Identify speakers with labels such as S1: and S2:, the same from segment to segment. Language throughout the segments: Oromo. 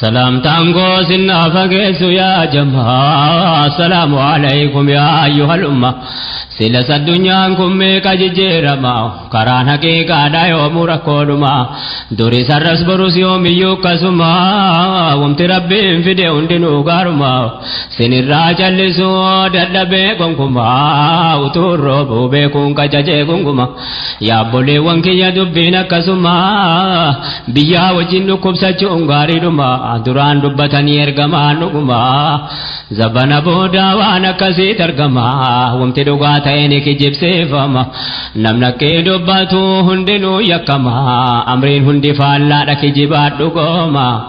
S1: Salaamtaan koo sinnaa fageessu yaa jamaa salaamu alaykum yaa ayyuhal umma silas addunyaan kun meeqa jijjiirama karaan haqiiqaadha yoomuu rakkoodhuma duris har'as borus yoomiyyuu akkasuma wamti rabbiin fide hundinuu gaaruma sinirraa callisuu dadhabee gonkumaa utuun roobuu beekuun qajajee gunguma. Yaa obboleewwan kiyya dubbiin akkasuma biyyaa wajjin dhukkubsachuun gaariidhuma duraan dubbatanii ergamaan dhuguma zabana boodaa waan akkasiit argama wamti dhugaa ta'e ni kijibsiifama namnakkee dubbatu hundinuu yakkama amriin hundi faallaadha kijibaadhu gooma.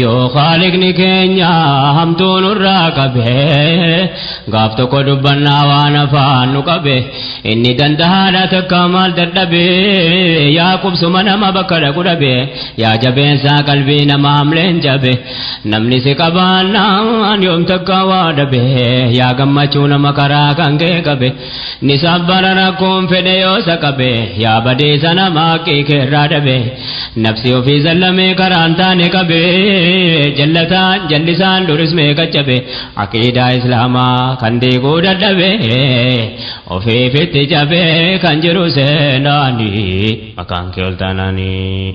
S1: yoo khaalikni keenya hamtuu nurraa qabe gaaf tokko dubbannaa waan afaan nu qabe inni dandahaadha takka maal dadhabe yaa qubsuma nama bakka dhaqu dhabe yaa jabeensaa qalbii nama hamleen jabe namni si qabaannaan yoom takka waa dhabe yaa gammachuu nama karaa kan kee qabe ni sabbara rakkoon fedhe yoo isa qabe yaa badeessa nama haqqii keerraa dhabe nafsi ofii sallamee karaan taane qabe jallataan jallisaan duris meeqa cabe aqiidaa islaamaa kan diiguu dadhabe ofiifitti cabe kan jiru seenaani maqaan kee ol taanaanii.